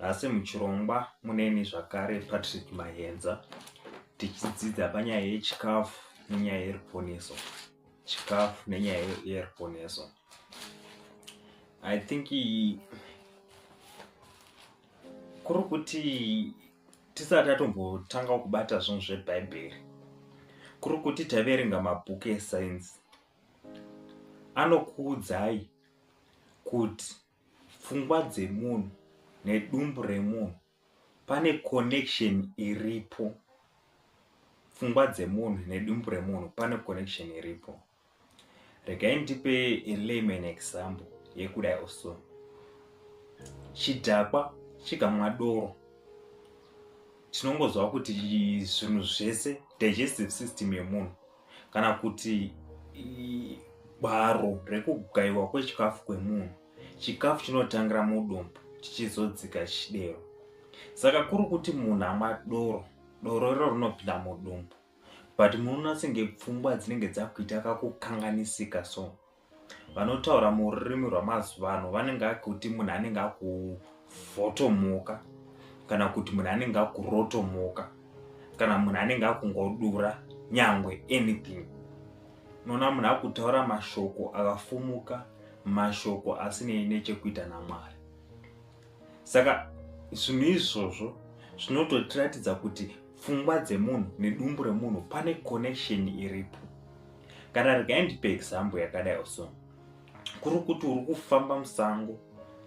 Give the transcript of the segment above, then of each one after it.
Nhasi muchirongwa muneni zvakare Patrick Mayenza tichidzidza panyaya yechikafu nenyaya yeruponeso. Chikafu nenyaya yeruponeso. I think kuri kuti tisati tatombotanga kubata zvinhu zvebhaibheri kuri kuti taverenga mabhuku esainzi anokuudzai kuti pfungwa dzemunhu nedumbu remunhu pane connection iripo pfungwa dzemunhu nedumbu remunhu pane connection iripo regai ndipe layman example yekudai oso chidhakwa chikamwa doro tinongoziva kuti zvinhu zvese digestive system yemunhu kana kuti gwaro rekugaiwa kwechikafu kwemunhu chikafu chinotangira mudumbu chichizodzika chidero saka kuri kuti munhu amwa doro doro iro rinopinda mudumbu but munoona senge pfungwa dzinenge dzakuita kakukanganisika so vanotaura mururimi rwamazuva ano vanenge akuti munhu anenge akuvhotomoka kana kuti munhu anenge akurotomoka kana munhu anenge akungodura nyangwe anything unoona munhu akutaura mashoko akafumuka mashoko asinei nechekuita namwari saka zvinhu izvozvo zvinototiratidza kuti pfungwa dzemunhu nedumbu remunhu pane connection iripo kana regai ndipe example yakadai so kuri kuti uri kufamba musango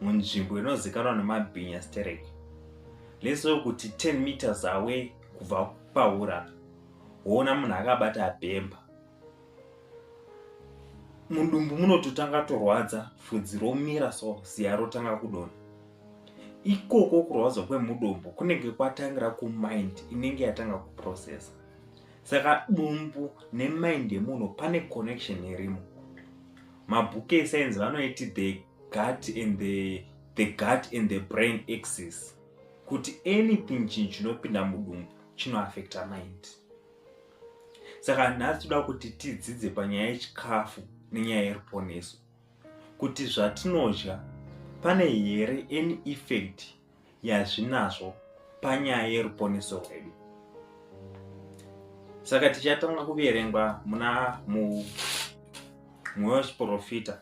munzvimbo inozikanwa nemabhinya sterek leso kuti 10 meters away kubva paura woona munhu akabata bhemba mudumbu munototanga torwadza fudzi romira so ziya rotanga kudona ikoko kurwadza kwemudumbu kunenge kwatangira kumind inenge yatanga kuprocessa saka dumbu nemind yemunhu pane connection irimo mabhuku esainzi vanoiti the gut and the, the gut and the brain axis kuti anything chinhu chinopinda mudumbu chinoaffecta mind saka nhasi toda kuti tidzidze panyaya yechikafu nenyaya yeruponeso kuti zvatinodya pane here any effect yazvinazvo panyaya yeruponeso rwedu saka tichatanga kuverengwa muna mumwewo chiprofita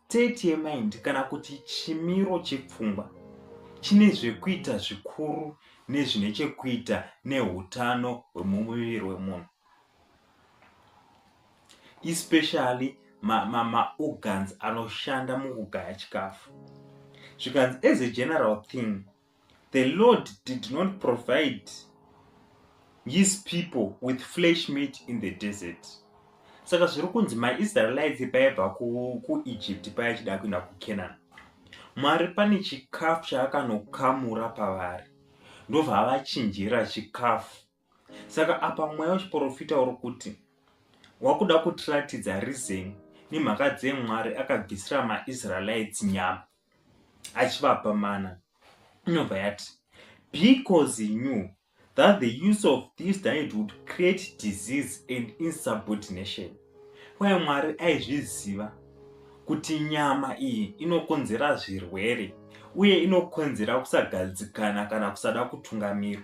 State yemind kana kuti chimiro chepfungwa chine zvekuita zvikuru nezvine chekuita neutano hwemumuviri wemunhu especially maorgans ma, ma anoshanda mukugaya chikafu zvikanzi as a general thing The Lord did not provide his people with flesh meat in the desert. Saka zviri kunzi maIsraelites paibva kuEgypt paya chida kuenda kuCanaan. Mwari pane chikafu chaakanokamura pavari. Ndovavachinjira chikafu saka apa mweya wechiprofita uri kuti wakuda kutiratidza rizeni nemhaka dzemwari akabvisira maisraelites nyama achivapa mana inobva yati because knew that the use of this diet would create disease and insubordination kwaye mwari aizviziva kuti nyama iyi inokonzera zvirwere uye inokonzera kusagadzikana kana kusada kutungamirwa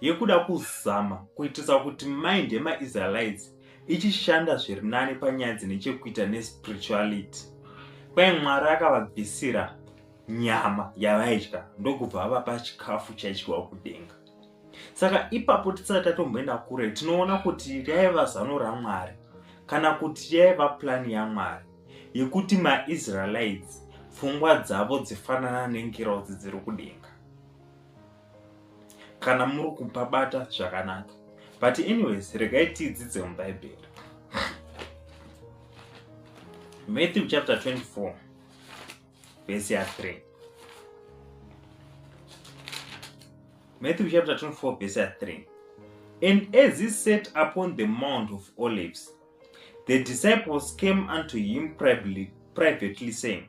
yekuda kuzama kuitisa kuti mind yemaisraelites ichishanda zviri nani panyaya dzine chekuita nespirituality kwai mwari akavabvisira nyama yavaidya ndokubva vavapa chikafu chaidyiwa kudenga saka ipapo tisati tatomboenda kure tinoona kuti raiva zano ramwari kana kuti yaiva plani yamwari yekuti maisraelites pfungwa dzavo dzifanana nengirozi dziri kudenga kana muri kubabata zvakanaka but anyways regai tiidzidze mubhaibheri matthew chapter 24 vhesi ya 3 matthew chapter 24 vhesi ya 3 and as he sat upon the mount of olives the disciples came unto him privately, privately saying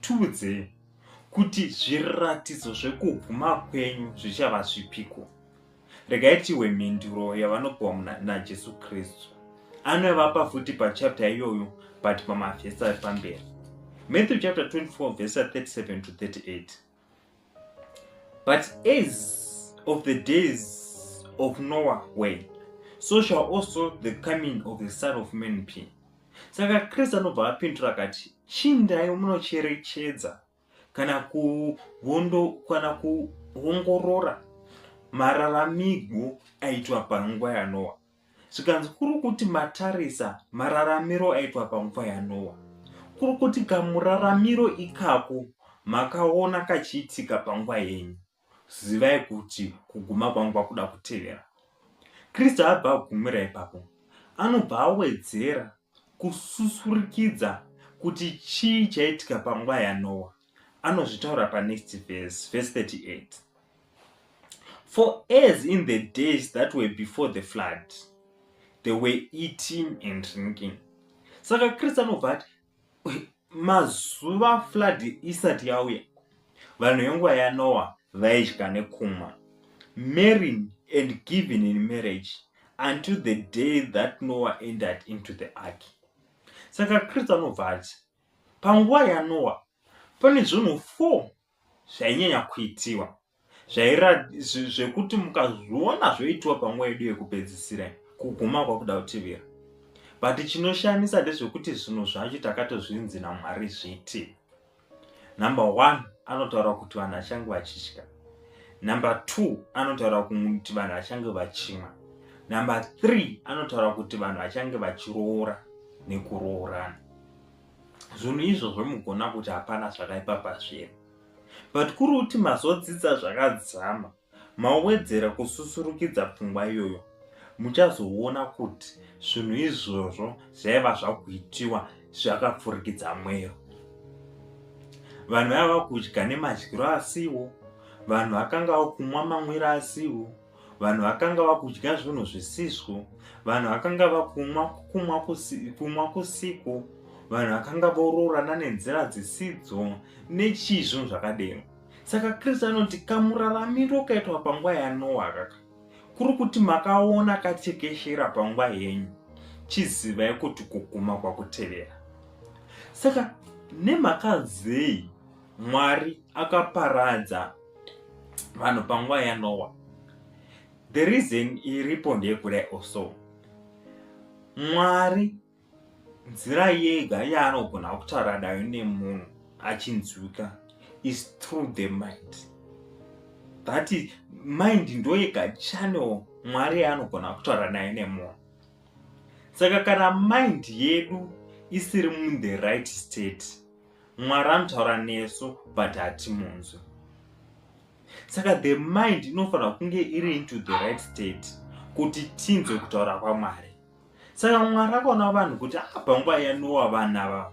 Tiudzei kuti zviratidzo zvekuguma kwenyu zvichava zvipiko? Regai tihwe mhinduro yavanopiwa muna- naJesu Kristu. Anovapa futi pachapter iyoyo but pamavhesi ari pamberi. Matthew chapter 24 verse 37 to 38. But as of the days of Noah were, so shall also the coming of the Son of Man be. Saka Kristu anobva apindura akati, chindai munocherechedza kana kuvondo kana kuongorora mararamigwo aitwa panguva yaNoa. zvikanzi kuri kuti matarisa mararamiro aitwa panguva yanowa kuri kuti kamuraramiro ikako makaona kachiitika panguva yenyu zivai kuti kuguma kwangu kwakuda kutevera kristu abva agumira ipapo anobva awedzera kususurikidza kuti chii chaitika panguva yanowa anozvitaura panext verse verse 38 for as in the days that were before the flood they were eating and drinking saka kristu anobva ati mazuva flood isati yauya vanhu venguva yanoa vaidya nekumwa marrying and giving in marriage until the day that noah entered into the ark saka kristu anobva ati Panguva yaNoa, pane zvinhu four zvainyanya kuitiwa zvekuti mukazviona zvoitiwa panguva yedu yekupedzisira kuguma kwakuda kutevera but chinoshamisa ndezvekuti zvinhu zvacho takatozvinzi namwari zviti number one anotaura kuti vanhu vachange vachitya number two anotaura kuti vanhu vachange vachimwa number three anotaura kuti vanhu vachange vachiroora nekuroorana zvinhu izvozvo mugona kuti hapana zvakaipa pazviri but kuri kuti mazodzidza zvakadzama mawedzera kususurukidza pfungwa iyoyo muchazoona kuti zvinhu izvozvo zvaiva zvakuitiwa zvakapfurikidza mwero vanhu vaiva kudya nemadyiro asiwo vanhu vakanga vakumwa mamwiro asiwo vanhu vakanga vakudya zvinhu zvisizvo vanhu vakanga vakumwa kumwa kumwa kusiku vanhu vakanga voroorana nenzira dzisidzo nechii zvinhu zvakadero saka kristu anoti kamuraramiro kaitwa panguva yanoa kaka kuri kuti makaona katekeshera panguva yenyu chizivai kuti kuguma kwakutevera saka nemhaka zei Mwari akaparadza vanhu panguva yaNoa. The reason iripo ndeyekudai also. Mwari nzira yega yaanogona kutaura nayo nemunhu achinzwika is through the mind. That is, mind ndoyega channel Mwari yaanogona kutaura nayo nemunhu. Saka kana mind yedu isiri in the right state, mwari anotaura nesu but hatimunzwi saka the mind inofanira kunge iri into the right state kuti tinzwe kutaura kwamwari saka mwari akaona vanhu kuti apa ah, nguva yanowa vanhu ava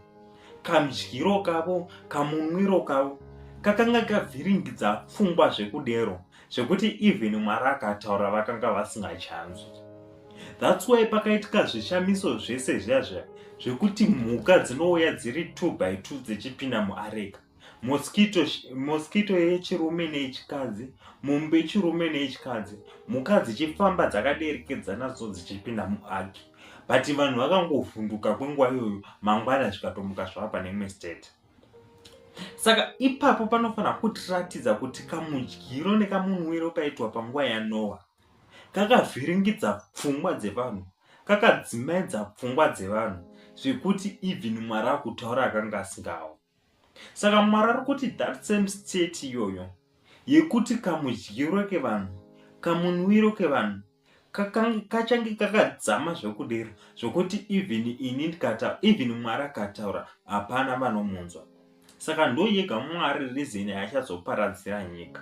kamdyiro kavo kamunwiro kavo kakanga kavhiringidza pfungwa zvekudero zvekuti even mwari akataura vakanga vasingachanzwi thats why pakaitika zvishamiso zvese zviya zviya zvekuti mhuka dzinouya dziri two by two dzichipinda muareka mosquito mosquito yechirume neyechikadzi mombe yechirume neyechikadzi mhuka dzichifamba dzakaderekedzana so dzichipinda muaki but vanhu vakangovhunduka kwenguva iyoyo mangwana zvikatomuka zvava pane imwe state saka ipapo panofanira kutiratidza kuti kamudyiro nekamunwiro kaitwa panguva yanoa kakavhiringidza pfungwa dzevanhu kakadzimaidza pfungwa dzevanhu zvekuti even mwari akutaura akanga asingawo saka mwari ari kuti that same state iyoyo yekuti kamudyiro kevanhu kamunwiro kevanhu kachange kakadzama zvokudira zvokuti even ini ndikataura even mwari akataura hapana vanomunzwa saka ndoyega mwari rizini yachazoparadzira nyika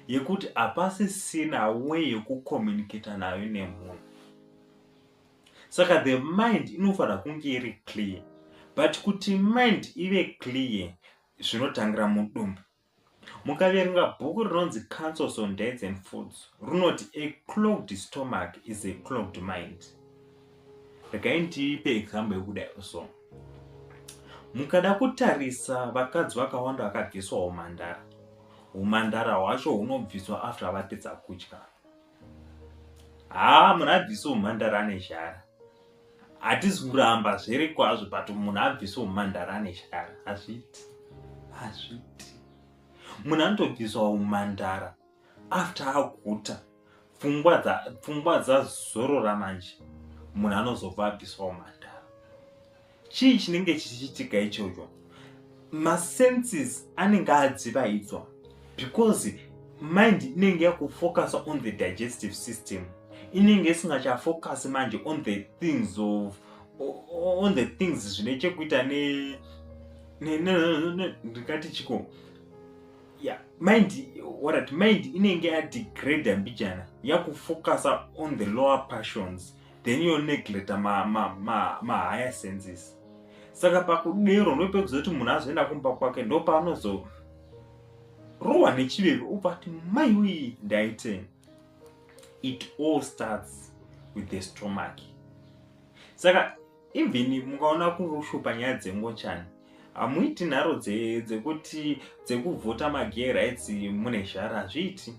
yekuti hapasisina we yekucommunicata nayo nemunhu saka the mind inofanira kunge iri clear but kuti mind ive clear zvinotangira mudumbu Mukaverenga bhuku rinonzi Councils on Diets and Foods runoti a clogged stomach is a clogged mind. Regai ndipe example yekudai so. Mukada kutarisa vakadzi vakawanda vakabviswa humhandara. Humhandara hwacho hunobviswa after vapedza kudya. haa munhu abvise umhandara ane shara hatisi kuramba zviri kwazvo but munhu abvise umhandara ane shara hazviti hazviti munhu anotobviswa umhandara after aguta pfungwa dzazorora manje munhu anozobva abviswa umhandara chii chinenge chichichitika ichocho masenses anenge adzivaidzwa because mind inenge yakufocusa on the digestive system inenge isingachafocus manje on the things of on the things zvine chekuita ne ndingati chiko yeah mind warat mind inenge yadegrade mbijana yakufocusa on the lower passions then yo negleta mahaya ma, ma, ma senses saka pakudero ndopekuzoti munhu azoenda kumba kwake ndopaanozo rohwa nechiveve obva ati mai wii ndaite it all starts with the stomach saka even mukaona kurushupa nyaya dzengochani hamuiti nharo dzekuti dzekuvhota magay rights mune zhara hazviiti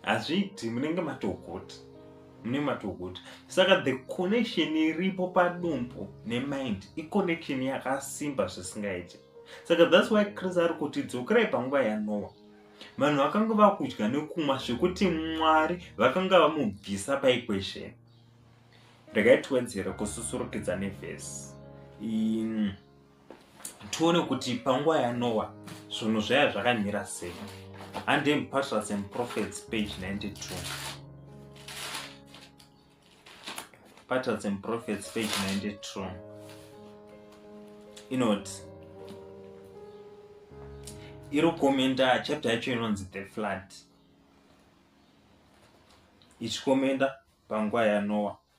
hazviiti munenge matogota munenge matogota saka the connection iripo padumbu nemind iconnection yakasimba zvisingaiti saka thats why chris ari kuti dzokerai panguva yanowa vanhu vakanga vakudya nekumwa zvekuti mwari vakanga vamubvisa paequation regai tiwedzere kususurukidza nevhesi tione kuti panguva yanowa zvinhu zvaya zvakamira sei andem patrias and prophets page 92 patrias and prophets page 92 inoti iri kukomenda chapter yacho inonzi the flood ichikomenda panguva yanowa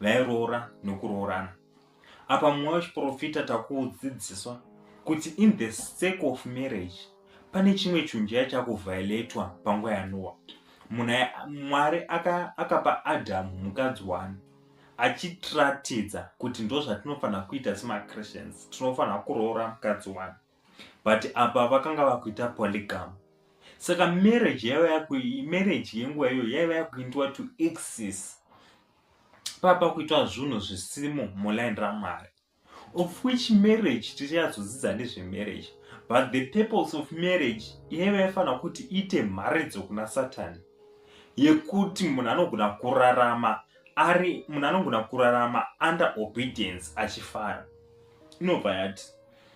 vairoora nokuroorana apa mumwe wechiprofita takuudzidziswa kuti in the sake of marriage pane chimwe chunjaya chakuvhailetwa panguva yanowa munhu mwari akapa aka adamu mukadzi wani achitiratidza kuti ndozvatinofanira kuita semachristians tinofanira kuroora mukadzi wani but apa vakanga vakuita polygam saka marriage yaiva yakumarriage yenguva iyoyo yaiva yakuitwa to exis papa kuitwa zvinhu zvisimo muline ramwari of which marriage tichayadzodzidza nezvemarriage but the purpose of marriage yaiva yafanira kuti iite mharidzo kuna satani yekuti munhu anogona kurarama ari munhu anogona kurarama under obedience achifara inobva yati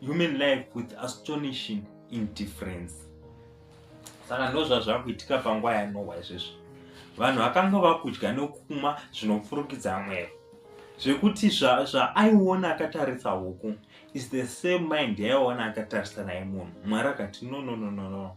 human life with astonishing indifference saka ndozvazvakuitika panguva yanowa izvezvo vanhu vakanga vakudya nokumwa zvinopfurukidza mwevo zvekuti zvaaiona zva akatarisa huku is the same mind yaiona akatarisa naye munhu mwari akati no no no no no, no.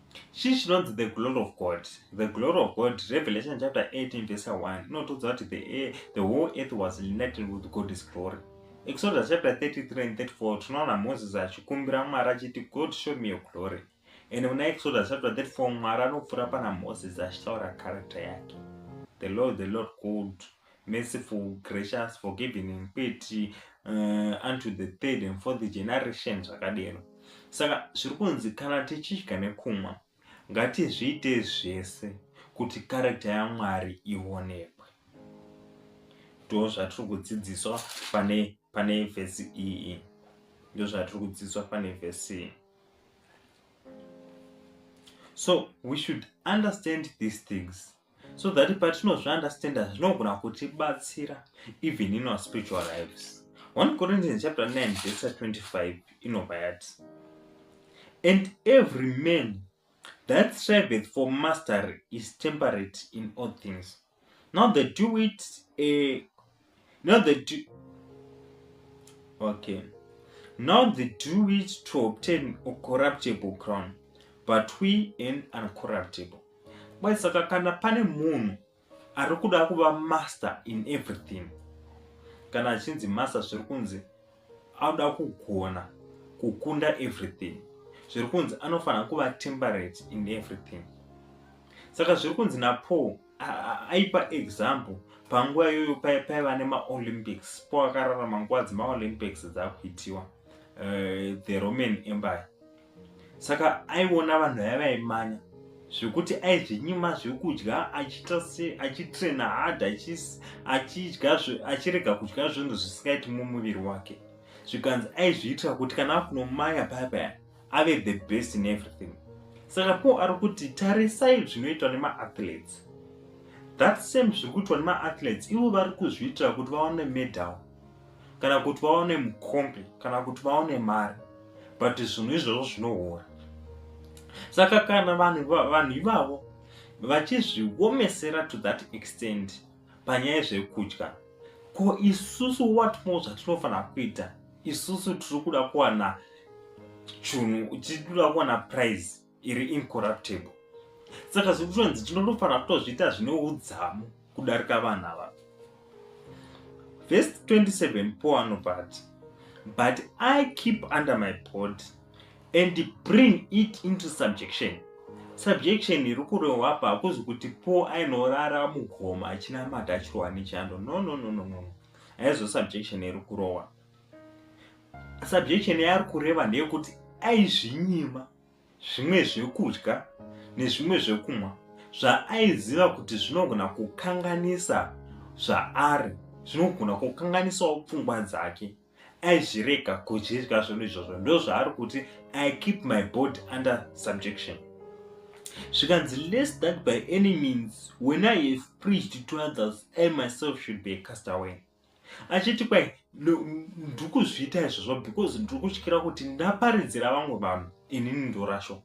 Chii chinonzi the glory of God? The glory of God, Revelation chapter 18 verse 1, inotiudza kuti the, air, the whole earth was united with God's glory. Exodus chapter 33 and 34, tinoona Moses achikumbira Mwari achiti, God show me your glory. And muna Exodus chapter 34, Mwari anopfura pana Moses achitaura character yake. The Lord, the Lord called merciful, gracious, forgiving and quiet uh, unto the third and fourth generation zvakadero. Saka zviri kunzi kana tichidya nekumwa ngatizviite zvese kuti karekta yaMwari ionekwe. Ndo zvatiri kudzidziswa pane pane vhesi iyi. Ndo zvatiri kudzidziswa pane vhesi iyi. So we should understand these things. so that patinozviunderstanda zvinogona kutibatsira even in our spiritual lives 1 corinthians chapter 9 verse 25 inobva yati and every man that striveth for mastery is temperate in all things now they do it a Now they do. Okay. Now they do it to obtain a corruptible crown, but we an uncorruptible. But saka kana pane munhu ari kuda kuva master in everything, kana achinzi master zviri kunzi anoda kugona kukunda everything, zviri kunzi anofanira kuva temperate in everything. Saka zviri kunzi naPaul aipa example panguva iyoyo paiva nemaolympics po akararama nguva dzemaolympics dzakuitiwa eh, the roman empire saka aiona vanhu vaya vaimanya zvekuti aizvinyima zvekudya achiita se achitraina hard achidya achirega kudya zvinhu zvisingaiti mumuviri wake zvikanzi aizviitira kuti kana akunomaya paya paya ave the best in everything saka paul ari kuti tarisai zvinoitwa nemaathletes that same zviri kuitwa nemaathletes ivo vari kuzviitira kuti vaone medal kana kuti vaone mukombe kana kuti vaone mari but zvinhu izvozvo zvinohora saka kana vanhu ivavo vachizviomesera to that extent panyaya yezvekudya ko isusu what more zvatinofanira kuita isusu tiri kuda kuwana chunhu tiri kuda kuwana prize iri incorruptable saka zviri kutonzi tinotofanira kutozviita zvine udzamu kudarika vanhu ava vest 27 poanobati but i keep under my body and bring it into subjection subjection iri kurehwa apa hakuzi kuti po ainorara mugoma achinamata achirohwa nechando no no no no no haizo subjection iri kurohwa subjection yaari kureva ndeyekuti aizvinyima zvimwe zvekudya nezvimwe zvekumwa zvaaiziva kuti zvinogona kukanganisa zvaari zvinogona kukanganisawo pfungwa dzake aizvirega kuzvidya zvinhu izvozvo ndozvaari kuti i keep my body under subjection zvikanzi less that by any means when i have preached to others i myself should be a cast away achiti kwai ndiri kuzviita izvozvo because ndiri kutyira kuti ndaparidzira vamwe vanhu inini ndorasho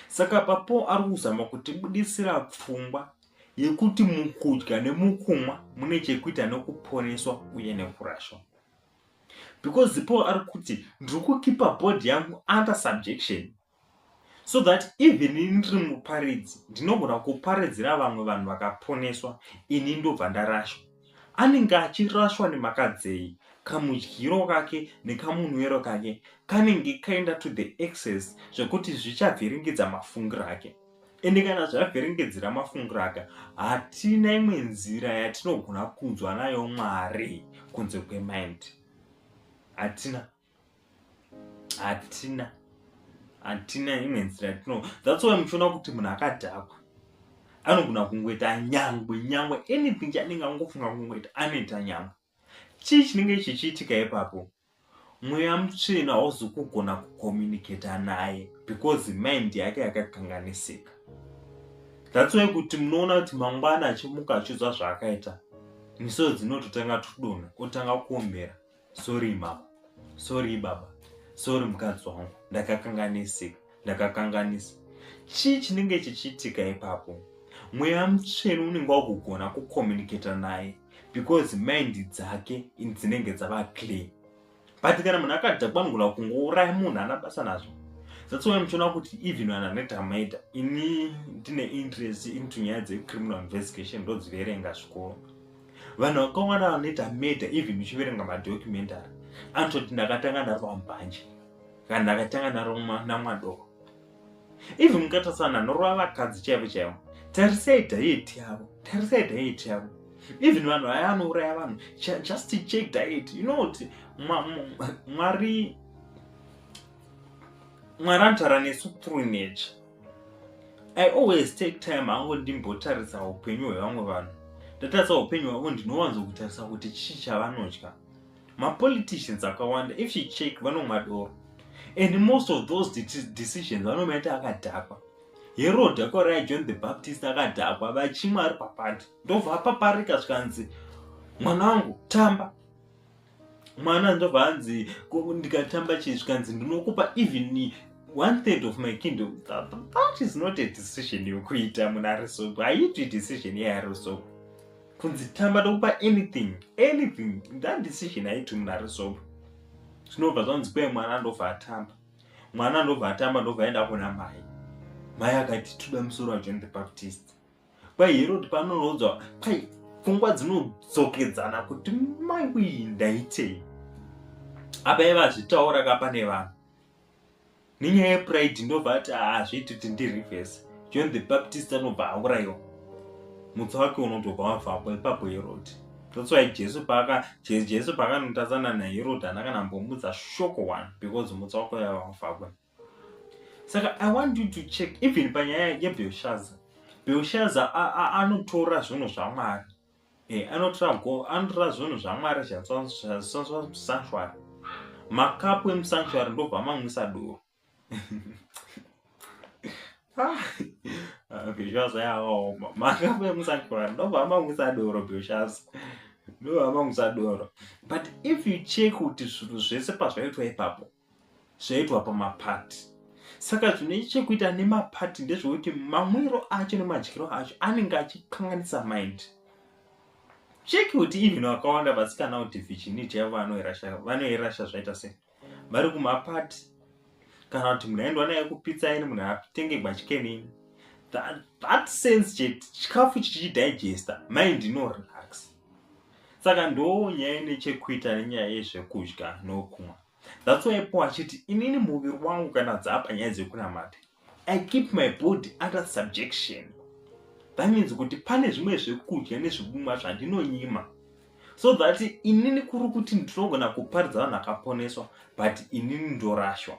saka papo ari kuzama kutibudisira pfungwa yekuti mukudya nemukumwa mune chekuita nekuponeswa uye nekurashwa because paul ari kuti ndiri kukipa body yangu under subjection so that even ini ndiri muparidzi ndinogona kuparidzira vamwe vanhu vakaponeswa ini ndobva ndarashwa anenge achirashwa nemhaka dzei kamudyiro kake nekamunwero kake kanenge kaenda to the access zvekuti zvichavhiringidza mafungiro ake ende kana zvavhiringedzera mafungiro aka hatina imwe nzira yatinogona kunzwa nayo mwari kunze kwemind hatina hatina hatina imwe nzira yatino that's why muchiona kuti munhu akadhakwa anogona kungoita nyangwe nyangwe anything chanenge angofunga kungoita anoita nyangwe chii chinenge chichiitika ipapo mweya mutsvina hauzi kugona kucommunicata naye because mind yake yakakanganisika that's why kuti munoona kuti mangwana achimuka achiudzwa zvaakaita misoro dzinototanga tudona otanga kuombera sori mama sori baba sori mukadzi wangu ndakakanganisika ndakakanganisa chii chinenge chichiitika ipapo mweya mutsvenu unenge wakugona kucommunicata naye because mind dzake dzinenge dzava clear but kana munhu akadhakwanigona kungouraya munhu ana basa nazvo that's why muchiona kuti even vanhu anoita maita ini ndine interest into nyaya dzecriminal investigation ndodziverenga zvikoro vanhu vakawanda vanoita murder even uchiverenga madocumentary anototi ndakatanga ndari pambanje Kana ndakatanga naro namwadoko. Ivi mukatatsana norova vakadzi chaivo chaivo. Tarisai diet yavo. Tarisai diet yavo. Even vanhu vaya anouraya vanhu just check diet. You know kuti Mwari Mwari anotara nesu through nature. I always take time hangu ndimbotarisa upenyu hwevamwe vanhu. Ndatarisa upenyu hwavo ndinowanzo kutarisa kuti chii chavanodya. mapoliticians akawanda if you check vanomwa doro and most of those decisions vanomaita akadhakwa herod akauraya john the baptist akadhakwa vachimwa ari papati ndobva apaparika zvikanzi mwana wangu tamba mwana ndobva anzi ndikatamba chii zvikanzi ndinokupa even one third of my kingdom that, that is not a decision yokuita munhu ari soko haiitwi decision yeari soko kunzi tamba ndokupa anything anything that decision haiti munhu ari sober zvinobva zvanzi kwe mwana andobva atamba mwana andobva atamba ndobva aenda kuna mai mai akati tuda musoro wajohn the baptist kwai herod panorodzwa kwai pfungwa dzinodzokedzana kuti mai uyi ndaitei apa iva zvitaura kapa nevanhu nenyaya yepride ndobva ati hazviiti kuti ndireverse john the baptist anobva aurayiwa mutsa wake unotobva wavapo ipapo herodi that's why jesu paaka jesu paakanotadzana naherodi ana kana mbomudza shoko one because mutsa wako yavavapakwe saka i want you to check even panyaya yebelshaza belshaza anotora zvinhu zvamwari Eh, anotora go anotora zvinhu zvamwari zvazvisanswa musanctuary makapu emusanctuary ndobva mamwisa doro ah, bheshaza yakaoma makapu emusanctuary ndobva mamwisa doro bheshaza ndobva mamwisa doro but if you check kuti zvinhu zvese pazvaitwa ipapo zvaitwa pamapati saka zvine chekuita nemapati ndezvekuti mamwiro acho nemadyiro acho anenge achikanganisa mind cheki kuti even vakawanda vasikana kuti vichiniti yavo vanoirasha zvaita sei vari kumapati kana kuti munhu aendwa naye kupitsa ini munhu atenge gwachikenini that, that sense chete chikafu chichidigesta mind inorelax saka ndoo nyaya ine chekuita nenyaya yezvekudya nokumwa that's why paul achiti inini muviri wangu kana dzaapa nyaya dzekunamata i keep my body under subjection that means kuti pane zvimwe zvekudya nezvekumwa zvandinonyima so that inini kuri kuti ndinogona kuparidza vanhu akaponeswa but inini ndorashwa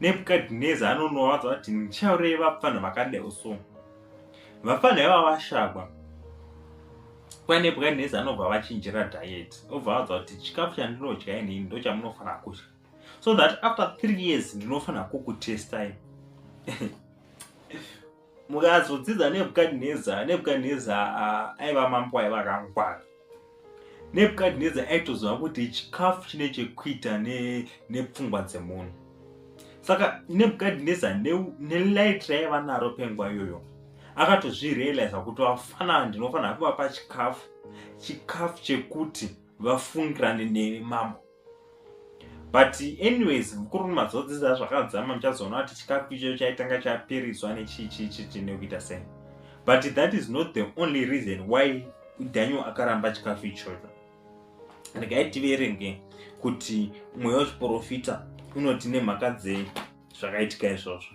nebhukadhineza anonovaudza kuti ndichaurei vapfanha vakadai so vapfanha iva vashakwa kwa nebhukadhineza anobva vachinjira diet obva vaudza kuti chikafu chandinodya inini ndo chamunofanira kudya so that after three years ndinofanira kukutestai mukazodzidza nebukadineza nebukadineza uh, aiva mambo aiva akangwara nebukadineza aitoziva kuti chikafu chine chekuita nepfungwa ne dzemunhu saka nebukadineza nelight raiva naro penguva iyoyo akatozvirealiza kuti vafana ndinofanira kuvapa chikafu chikafu chekuti vafungirane neni mambo but anyways mukuru mazodzidza zvakadzama muchazoona kuti chikafu ichocho chaitanga chaperedzwa nechichichichi nekuita sei but that is not the only reason why daniel akaramba chikafu ichocho regai tiverenge kuti mweya wechiprofita unoti nemhaka dzei zvakaitika izvozvo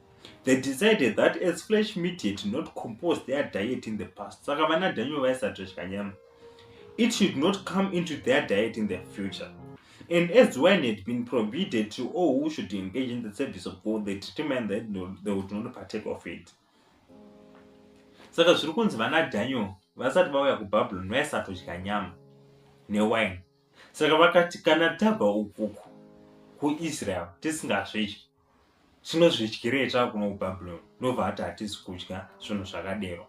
They decided that as flesh meat had not composed their diet in the past, saka vana Daniel vaisadya nyama. It should not come into their diet in the future. And as wine had been prohibited to all who should engage in the service of God, they determined that no, they would not partake of it. Saka zviri kunzi vana Daniel vasati vauya kuBabylon vaisatodya nyama newine. Saka vakati kana tabva ukuku kuIsrael tisingasvedyi tinozvidyirei takuno kubabylon ndobva ati hatisi kudya zvinhu zvakadero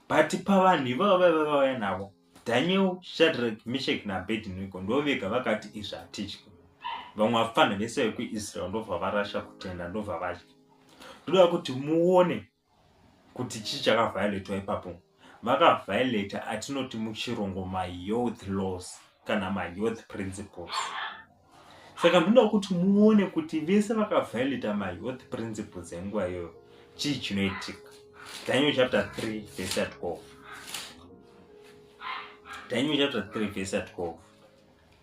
but pavanhu ivavo vaiva vauya navo daniel shadrak mishek nabednigo ndovega vakati izvi hatidyi vamwe vapfanha vese vekuisrael ndobva varasha kutenda ndobva vadya ndoda kuti muone kuti chii chakavhiolatwa ipapo vakavhiolata atinoti muchirungu mayoth laws kana mayoth principles saka ndinoda kuti muone kuti vese vakavhiolata mayoth principles enguva iyoyo chii chinoitika daniel chapter 3 vese ya 12 daniel chapter 3 vese ya 12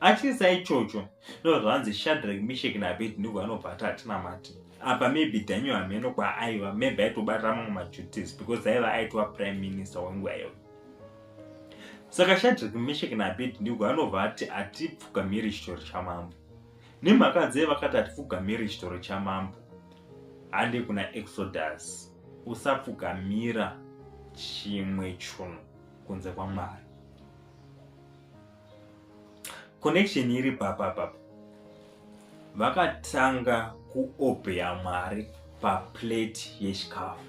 atyisa ichocho no zvanzi shadrack mishek naabednego vanobva ati hatinamati apa maybe daniel hameno kwaaiva maybe aitobatira mamwe maduties because aiva aitwa prime minister wenguva iyoyo saka shadrack mishek naabednego anobva ati hatipfugamiri chitoro chamambo nemhaka dzee vakati hatipfugamiri chitoro chamambo hande kuna exodus usapfugamira chimwe chunhu kunze kwamwari connection iri papa papa vakatanga kuobeya mwari paplate yechikafu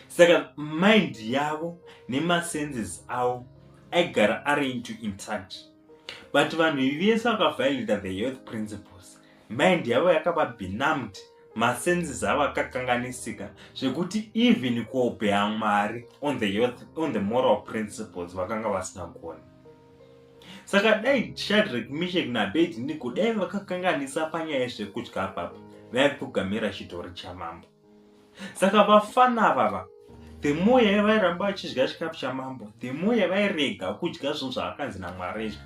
saka mind yavo nemasenses avo aigara ari into intact but vanhu vese vakaviolator the health principles mind yavo yakava benumbed masenses avo akakanganisika zvekuti even kuobeya mwari on the, youth, on the moral principles vakanga vasina kuona saka dai shadrek mishek nabedi ndiko dai vakakanganisa panyaya yezvekudya papa vaipfugamira chitori chamambo saka vafana vava the more yavairamba vachidya chikafu chamambo the more yavairega kudya zvinhu zvaakanzi namwari izvi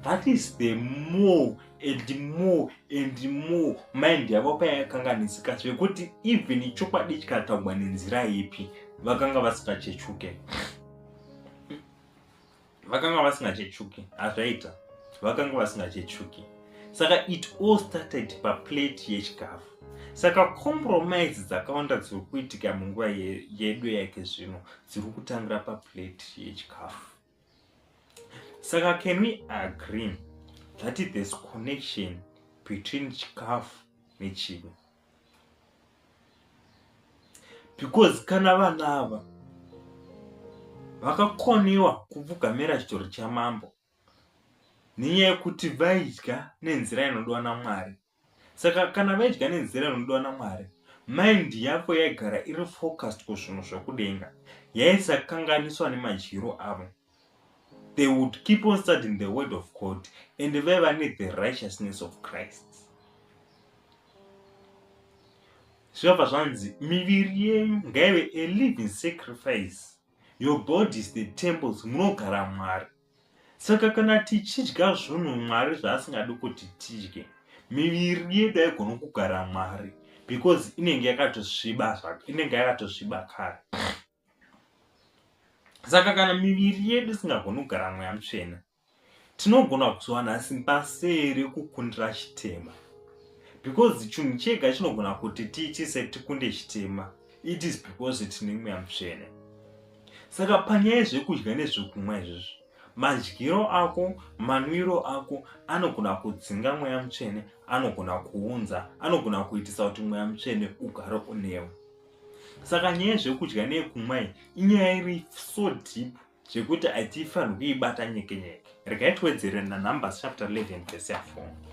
that is the more and more and more mind yavo payakanganisika zvekuti even chokwadi chikataugwa nenzira ipi vakanga vasipachechuke vakanga vasingachechuki hazvaita vakanga vasingachechuki saka it all started paplate yechikafu saka compromise dzakawanda dziri kuitika munguva yedu yake zvino dziri kutangira paplate yechikafu saka can we agree that this connection between chikafu nechivi because kana vana ava vakakoniwa kupfugamira chitoro chamambo nenyaya yekuti vaidya nenzira inodiwa namwari saka kana vaidya nenzira inodiwa namwari mind yavo yaigara iri focused kuzvinhu zvekudenga yaisakanganiswa nemadyiro avo they would keep on studying the word of god and vaiva nethe righteousness of christ zvinobva zvanzi miviri yenyu ngaive a living sacrifice your body is the temples munogara mwari saka kana tichidya zvunhu mwari zvaasingadi kuti tidye miviri yedu aigona kugara mwari because inenge yakatosviba inenge yakatosviba kare saka kana miviri yedu isingagoni kugara mweya mutsvene tinogona kuzowana simba sei rekukundira chitema because chinhu chega chinogona kuti tiitise tikunde chitema it is because tine mweya mutsvene saka panyaya zvekudya nezvekumwa izvizvi madyiro ako manwiro ako anogona kudzinga mweya mutsvene anogona kuunza anogona kuitisa kuti mweya mutsvene ugare unewe saka nyaya yezvekudya neyekumwa iyi inyaya iri so deep zvekuti hatifanirwi kuibata nyeke nyeke regai tiwedzere nanumbers chapter 11 verse ya 4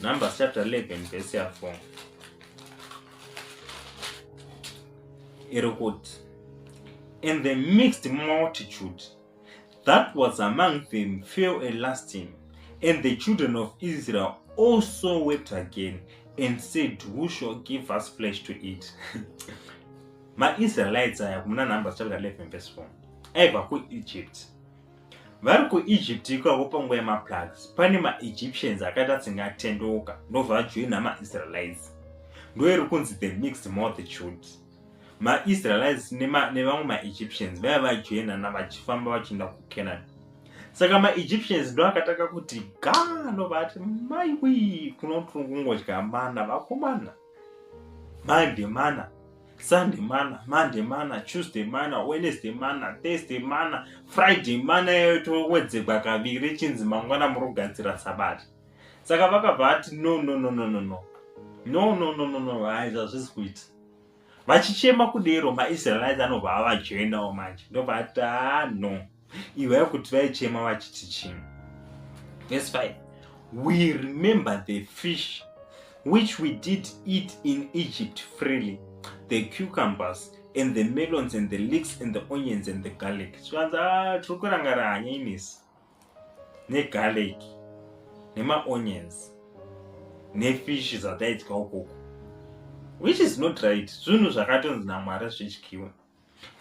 numbers chapter 11 verse ya 4 iri kuti and the mixed multitude That was among them fell a lasting, and the children of Israel also wept again and said, Who shall give us flesh to eat? maIsraelites aya kumuna Numbers chapter 11 verse 4 aiva kuEgypt. Vari kuEgypt ikako panguva yemaplagues pane maEgyptians akaita tsingatendeuka ndobva vajoina maIsraelites. Ndoiri kunzi the mixed multitude. maisraelites nevamwe maegyptians vaiva vajoinana vachifamba vachienda kucanaan saka maegyptians ndo akatanga kuti gano vati maiwi kunotungungodya mana vakomana monday mana sunday mana monday mana tuesday mana wednesday mana thursday mana friday mana yayo towedzegwa kaviri chinzi mangwana murogadzira sabata saka vakabva vati no no no no no no no no no no no haizvazvisi kuita vachichema kudero maisraelites anobva avajoinawo manje ndobva ati haa no iwaya kuti vaichema vachiti chii verse 5 we remember the fish which we did eat in egypt freely the cucumbers and the melons and the leaks and the onions and the garlic zvikanzi a ah, tiri kurangara hanya inesi negarlic nemaonions nefish dzataidya ukoko which is not right zvinhu zvakatonzi namwari zvidyiwa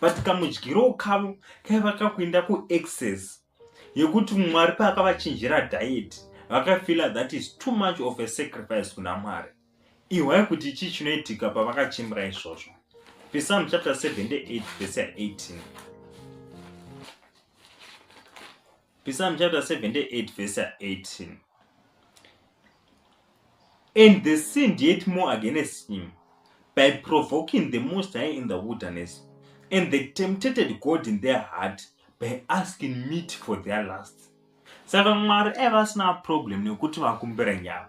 but kamudyiro kavo kaiva kakuenda kuexcess yekuti mwari paakavachinjira diet vakafeela that is too much of a sacrifice kuna mwari Ihwai kuti chii chinoitika pavakachembera izvozvo. Pisalm chapter 78 verse 18. Pisalm chapter 78 verse 18. And they sinned yet more against him by provoking the Most High in the wilderness, and they tempted God in their heart by asking meat for their lust. Saka Mwari aiva asina problem nekuti vakumbira nyama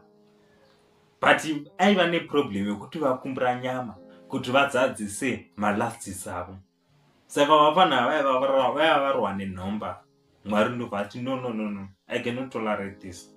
but aiva neproblem yekuti vakumbira nyama kuti vadzadzise malasts avo saka vapana vaiva varwa nenhomba mwari ndovati no no no no i cannot tolerate this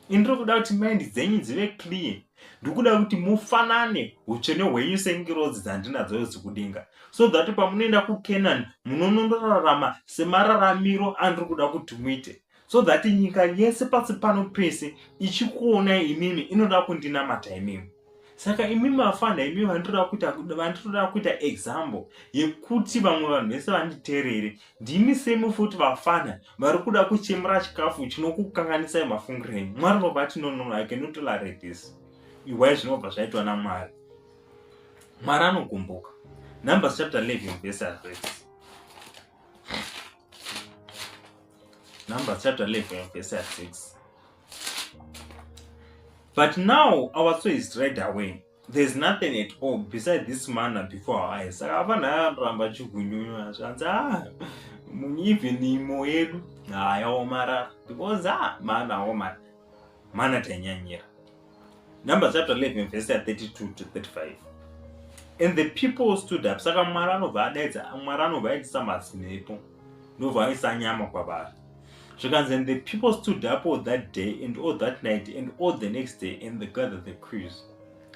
indiri kuda kuti mind dzenyu dzive clear ndikuda kuti mufanane utsvene hwenyu sengirozi dzandinadzo dzekudenga so that pamunoenda kucanaan munonondorarama semararamiro andiri kuda kuti muite so that nyika yese pasi pano pese ichikuonai imimi inoda kundinamata imimi saka imimi vafana imimi vanditoda kuita vanditoda kuita example yekuti vamwe vanhu vese vanditeerere ndimi semi futi vafana vari kuda kuchemura chikafu chinokukanganisai mafungiro enyu mwari vabati nonono i cannot tolerate this iwai zvinobva zvaitwa namwari mwari anogumbuka numbers chapter 11 verse 3 Numbers chapter 11 verse 6. But now our soul is dried away. There is nothing at all beside this manna before our eyes. Saka hapana akaramba chigunyunywa zvanzi ah even imo yedu hayaomarara because ah mana aomara mana tanyanyira. Numbers chapter 11 verse 32 to 35 and the people stood up saka mwari anobva adaidza mwari anobva aitisa mazinepo ndobva aisa nyama kwavari zvikanzi and the people stood up all that day and all that night and all the next day and they gathered the crews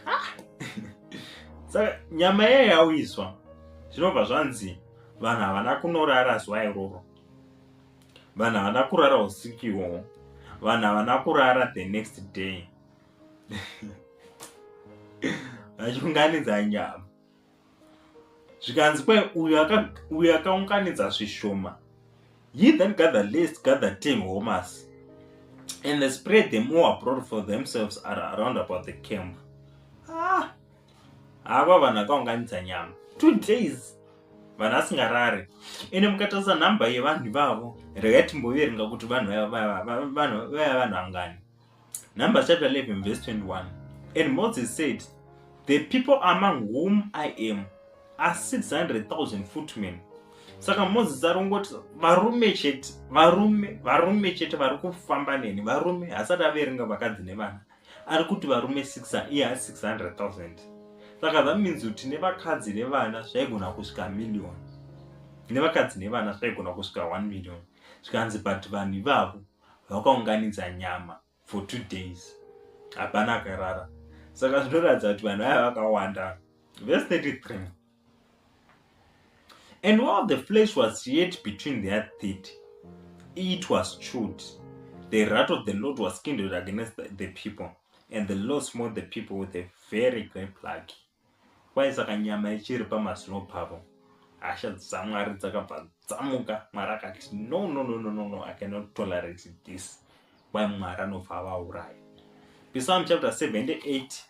ah! saka nyama yayo yawiswa zvinobva zvanzi vanhu havana kunorara zuva iroro vanhu havana kurara usiku iwowo vanhu havana kurara the next day vachiunganidza nyama zvikanzi kwai uyo akaunganidza zvishoma he that gather list gather ten homas and they spread them all abroad for themselves are around about the camp ah, Ava vanhu akaunganidza nyama. Two days vanhu asingarare ende mukatarisa nhamba yevanhu ivavo regai timboverenga kuti vanhu vaya vanhu angani number chapter 11 verse 21 and moses said the people among whom i am are 600000 footmen saka moses ari kungoti varume chete varume varume chete vari kufamba neni varume hasati averenga vakadzi nevana ari kuti varume 6 iye haa 600000 saka zvaminzi kuti nevakadzi nevana zvaigona kusvika million nevakadzi nevana zvaigona kusvika 1 million zvikanzi but vanhu ivavo vakaunganidza nyama for two days hapana akarara saka zvinoratidza kuti vanhu vaya vakawanda vese 33 And while the flesh was yet between their teeth, it was chewed. The wrath of the Lord was kindled against the people, and the Lord smote the people with a very great plague. Kwai saka nyama ichiri pamazino pavo, hasha dzaMwari dzakabva dzamuka. Mwari akati, no, no, no, no, no, no, I cannot tolerate this. Kwai Mwari anobva avauraya. Psalm chapter 78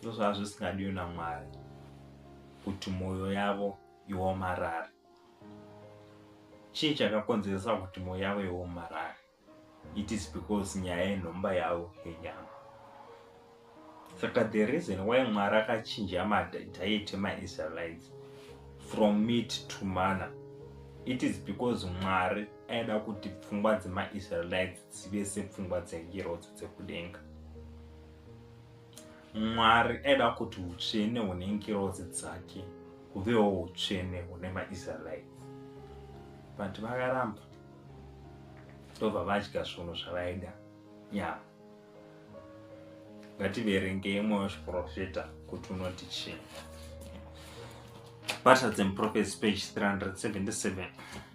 ndozvaa zvisingadiwe namwari kuti mwoyo yavo iomarare chii chakakonzeresa kuti mwoyo yavo iomarare it is because nyaya yenhomba yavo yenyama saka the reason why mwari akachinja madiet emaisraelites from meat to mana it is because mwari aida kuti pfungwa dzemaisraelites dzive sepfungwa dzengirodzo dzekudenga mwari aida kuti utsvene hune ngirozi dzake huvewo utsvene hune maisraeri but vakaramba ndobva vadya zvinhu zvavaida ya ngativerenge imwe wezviprofita kuti unoti chii battles and prophets page 377 mm -hmm.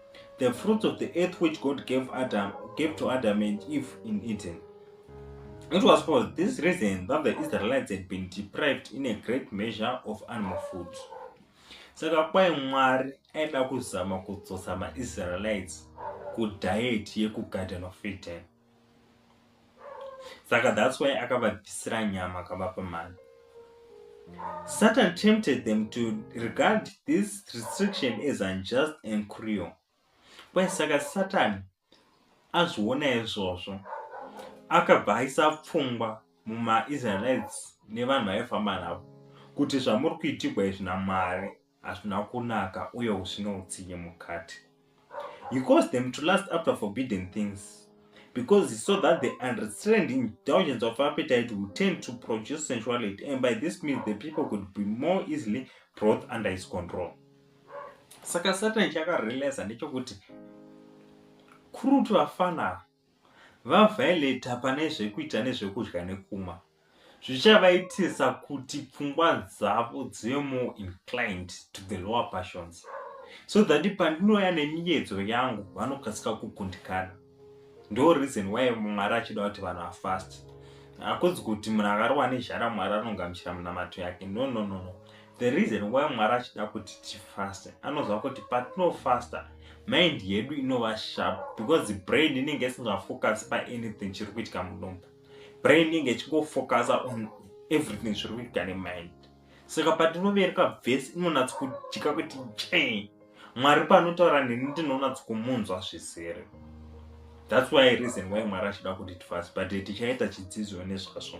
The fruits of the earth which God gave Adam gave to Adam and Eve in Eden. It was for this reason that the Israelites had been deprived in a great measure of animal food. Saka kwai Mwari aida kuzama kudzosa maIsraelites kudhayeti yekugadhana fetani. saka that's why akavabvisira nyama akavapa mari satan tempted them to regard this restriction as unjust and cruel kwai saka satani azviona izvozvo akabva aisa pfungwa mumaisraelites nevanhu vaifamba navo kuti zvamuri kuitigwa izvi namwari hazvina kunaka uye husvino utsinye mukati he caused them to last after forbidden things because he saw that the unrestrained indulgence of appetite will tend to produce sensuality and by this means the people could be more easily brought under his control saka satan chakarealisa ndechokuti kurutu vafana VaViolet pane zvekuita nezvekudya nekumwa zvichavaitisa kuti pfungwa dzavo dzive more inclined to the lower passions so that pandinouya nemiyedzo yangu vanokasika kukundikana ndo reason why mwari achida kuti vanhu afast akunzi kuti munhu akarowa nezhara mwari anongamuchira munamato yake no no no no the reason why mwari achida kuti tifaste anoziva kuti patinofasta mind yedu inova sharp because the brain inenge isingafocus paanything chiri kuitika mudumbu brain inenge ichingofocusa on everything zviri kuitika nemind saka patinovereka vhesi inonatsi kudika kuti chee mwari panotaura neni ndinonatsi kumunzwa zvizere thats why reason why mwari achida kuti tifasi but tichaita chidzidzo nezvazvo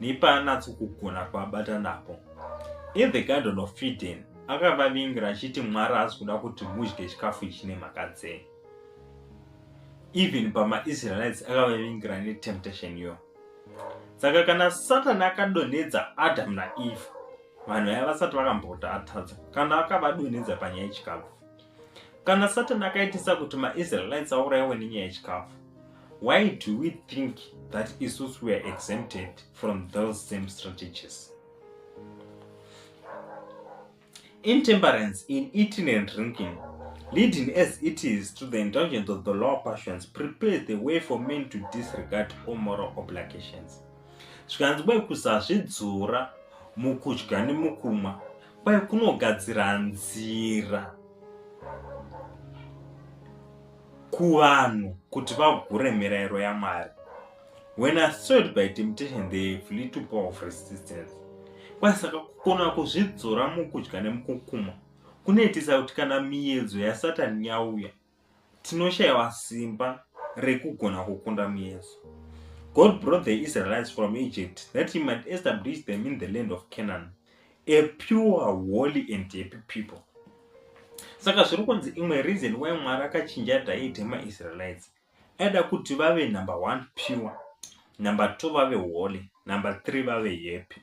nepaanatsokugona kuabata napo. In the Garden of Eden, akavavingira achiti Mwari haasi kuda kuti mudye chikafu ichi nemhaka dzei. Even pamaIsraelites akavavingira netemptation iyoyo. Saka kana Satani akadonhedza Adam naEve, vanhu vaya vasati vakambokuti atadza kana akavadonhedza panyaya yechikafu. Kana Satani akaitisa kuti maIsraelites aurayiwe nenyaya yechikafu, why do we think that isusu we are exempted from those same strategies? Intemperance in eating and drinking, leading as it is to the indulgence of the lower passions, prepares the way for men to disregard all moral obligations. Zvikanzi kwai kusazvidzora mukudya nemukumwa kwaye kunogadzira nzira kuvanhu kuti vagure mirairo yamwari when assoiled by temptation they flee to power of resistance kwaye saka kukona kuzvidzora mukudya nemukukuma kunoitisa kuti kana miyedzo yasatani yauya Tinoshayiwa simba rekugona kukunda muyeso. God brought the Israelites from Egypt that he might establish them in the land of Canaan, a pure, holy and happy people. Saka zviri kunzi imwe reason why Mwari akachinja diet maIsraelites aida kuti vave number one pure, number two vave holy, number three vave happy.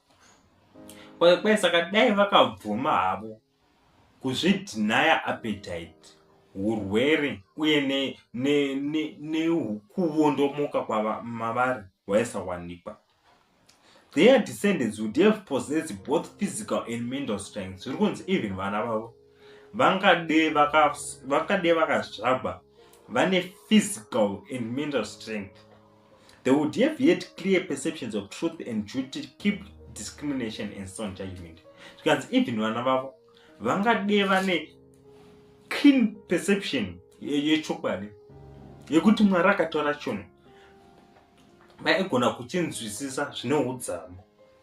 kwai saka dai vakabvuma havo kuzvidhinaya appetite urwere uye nekuwondomoka ne, ne, kwamavari waisawanikwa their descendants would have possessed both physical and mental strength zviri kunzi even vana vavo vangade vakazvagwa vane physical and mental strength they would have had clear perceptions of truth and duty to keep discrimination and sound judgment zvikanzi even vana vavo vangade vane clean perception yechokwadi yekuti mwari akataura chono vaigona kuchinzwisisa zvine udzamo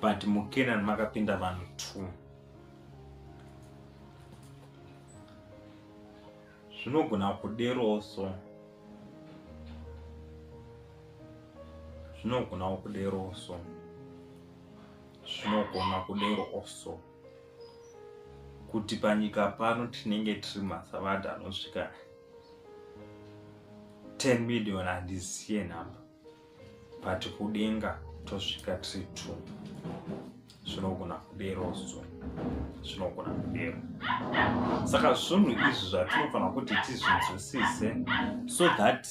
but mukenan makapinda vanhu two zvinogona kuderowo so zvinogonawo kuderowo so zvinogona kuderowo so kuti panyika pano tinenge tiri masavadha anosvika 10 million handisiye nhamba but kudenga tosvika tiri two zvinogona kudero so zvinogona kudero saka zvinhu izvi zvatinofanira kuti tizvinzwisise so that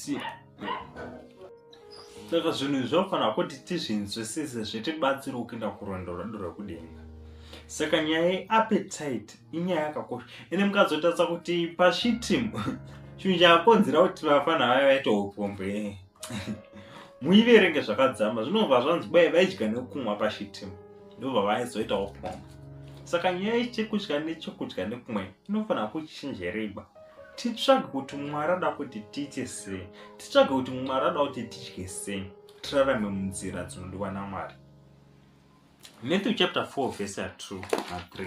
saka zvinhu izvi zvinofanira kuti tizvinzwisise zvitibatsira kuenda kurwendo rwedu rwekudenga saka nyaya yeappetite inyaya yakakosha ende mukazotadza kuti pashitimu chinhu chakonzera kuti vafana vaya vaite upombwe muiverenge zvakadzama zvinobva zvanzi bwaye vaidya nekumwa pashitim ndobva vaizoitawo pomba saka nyaya yechekudya nechekudya nekumwe inofanira kuchinjereba titsvage kuti mwari ada kuti tiite sei titsvage kuti mwari ada kuti tidye sei tirarame munzira dzinodiwa namwari matthew chapter 4 vese ya 2 na 3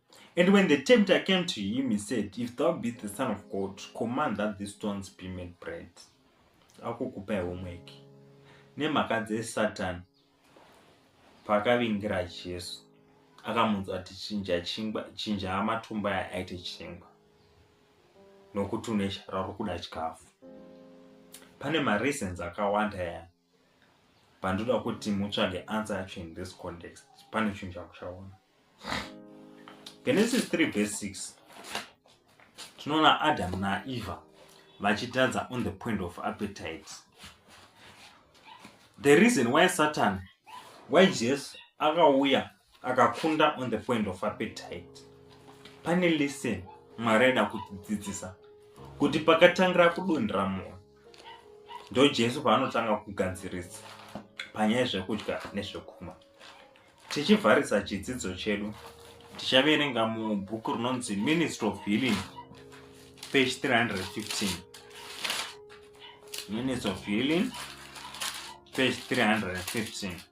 And when the tempter came to him, he said, If thou be the Son of God, command that these stones be made bread. Akukupa homework. Nemhaka dzeSatan paakavingira Jesu akamunzwa ati chinja chingwa chinja amatumba aya aite chingwa nokuti une shara uri kuda chikafu. Pane mareasons akawanda ya pandoda kuti mutsvage answer yacho in this context pane chinhu chamuchaona genesis 3 verse 6 tinoona adamu naeva vachitadza on the point of appetite the reason why satan why jesu akauya akakunda on the point of appetite pane lesson mwari aida kutidzidzisa kuti pakatangira kudonhera moyo ndo jesu paanotanga kugadzirisa panyaya zvekudya nezvekumwa tichivharisa chidzidzo chedu tichaverenga mubhuku rinonzi ministry of healing page 315 ministry of healing page 315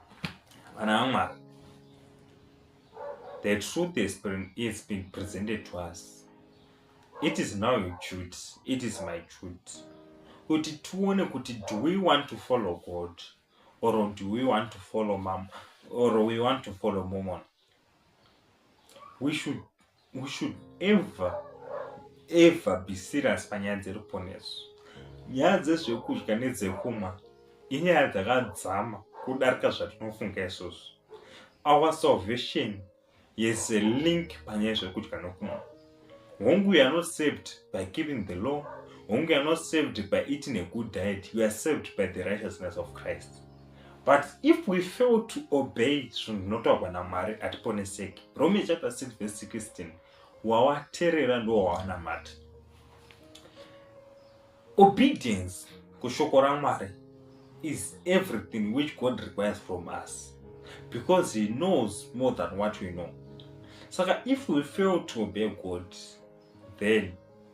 vana vamwari the truth is been, is been presented to us it is now your duty it is my duty kuti tione kuti do we want to follow god or do we want to follow mam or we want to follow momon we should we should ever ever be serious panyaya dzeruponeso nyaya dzezvekudya nedzekumwa inyaya dzakadzama kudarika zvatinofunga izvozvo our salvation yes a link panyaya zvekudya nokumwa hongu you are not saved by keeping the law hongu you are not saved by eating a good diet you are saved by the righteousness of christ but if we fail to obey zvinhu zvinotaurwa namwari hatiponeseki rome chapter 6 verse 16 wawaterera ndowawanamata obedience kushoko ramwari is everything which god requires from us because he knows more than what we know saka if we fail to obey god then